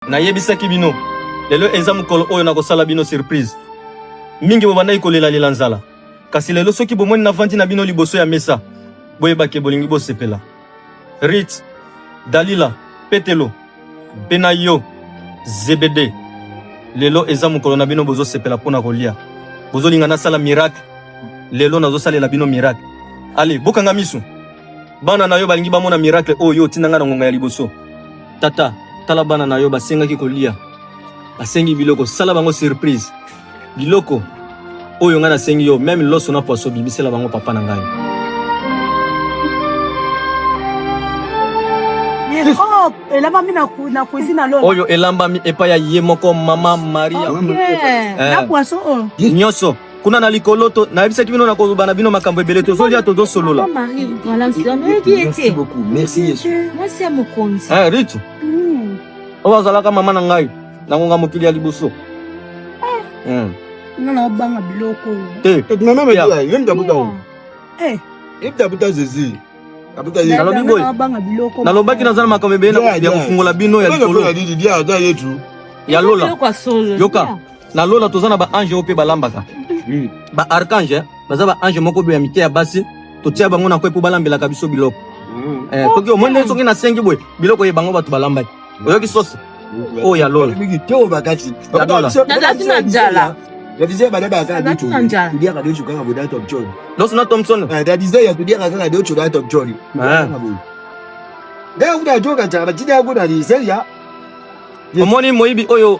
Nayebisaki bino lelo eza mokolo oyo nakosala bino surprise. Mingi bobandaki kolelalela nzala, kasi lelo soki bomoni navandi na bino liboso ya mesa, boyebake bolingi bosepela. Rit, Dalila, Petelo, mpe na yo Zebede, lelo eza mokolo na bino, bozosepela mpo na kolia, bozolinga nasala miracle. Lelo nazosalela bino miracle. Ale, bokanga miso, bana na yo balingi bamona miracle oyo otinda ngai na ngonga ya liboso. Tata, tala bana na yo basengaki kolia, basengi biloko, sala bango surprise. Biloko oyo ngai nasengi yo, meme loso na poisson, bimisela bango papa na ngai. elambami na cuisine na lola oyo elambami epai ya ye moko mama maria na poisson oyo nyonso kuna na likolo to nayebisaki bino nakoloba na bino makambo ebele tozolia tozosolola eh, ritu hmm. oyo azalaka mama na ngai na ngonga mokili ya liboso ah. hmm. nanaobanga biloko te ebuta zezi nalobi boye nalobaki naza na makambo ebele ya kofungola bino ya likolo ya lola yoka na lola toza na ba ange oyo mpe balambaka hmm. ba archange eh. baza ba ange moko boye ya mike ya basi totia bango na kwe mpo balambelaka biso biloko hmm. eh, soki omoni ndenge soki nasengi boye biloko ye bango bato balambaki oyoki sosi hmm. oyo ya lola nazalaki na njala Dadizee badaba akala bitu. Kudia kado chuka kabo da Top John. Losu na Thompson. Eh dadizee ya kudia kaka kado chuka Top John. Eh. Ndio kuda joka cha bajidi ya kuda ni seria. Omoni moibi oyo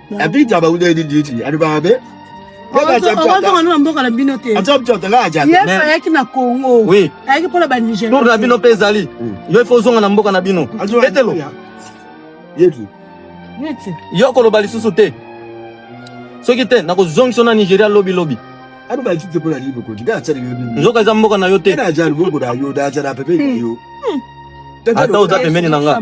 Abidja ba ude di diti adu ba be. mboka na bino te ayaki na congo ayaki mpona banigertour na bino mpe ezali yo ifo ozonga na mboka na bino etelo yo okoloba lisusu te soki te nakozongisa na nigeria lobi lobi nzoka eza mboka na yo te ata oza pembeni na nga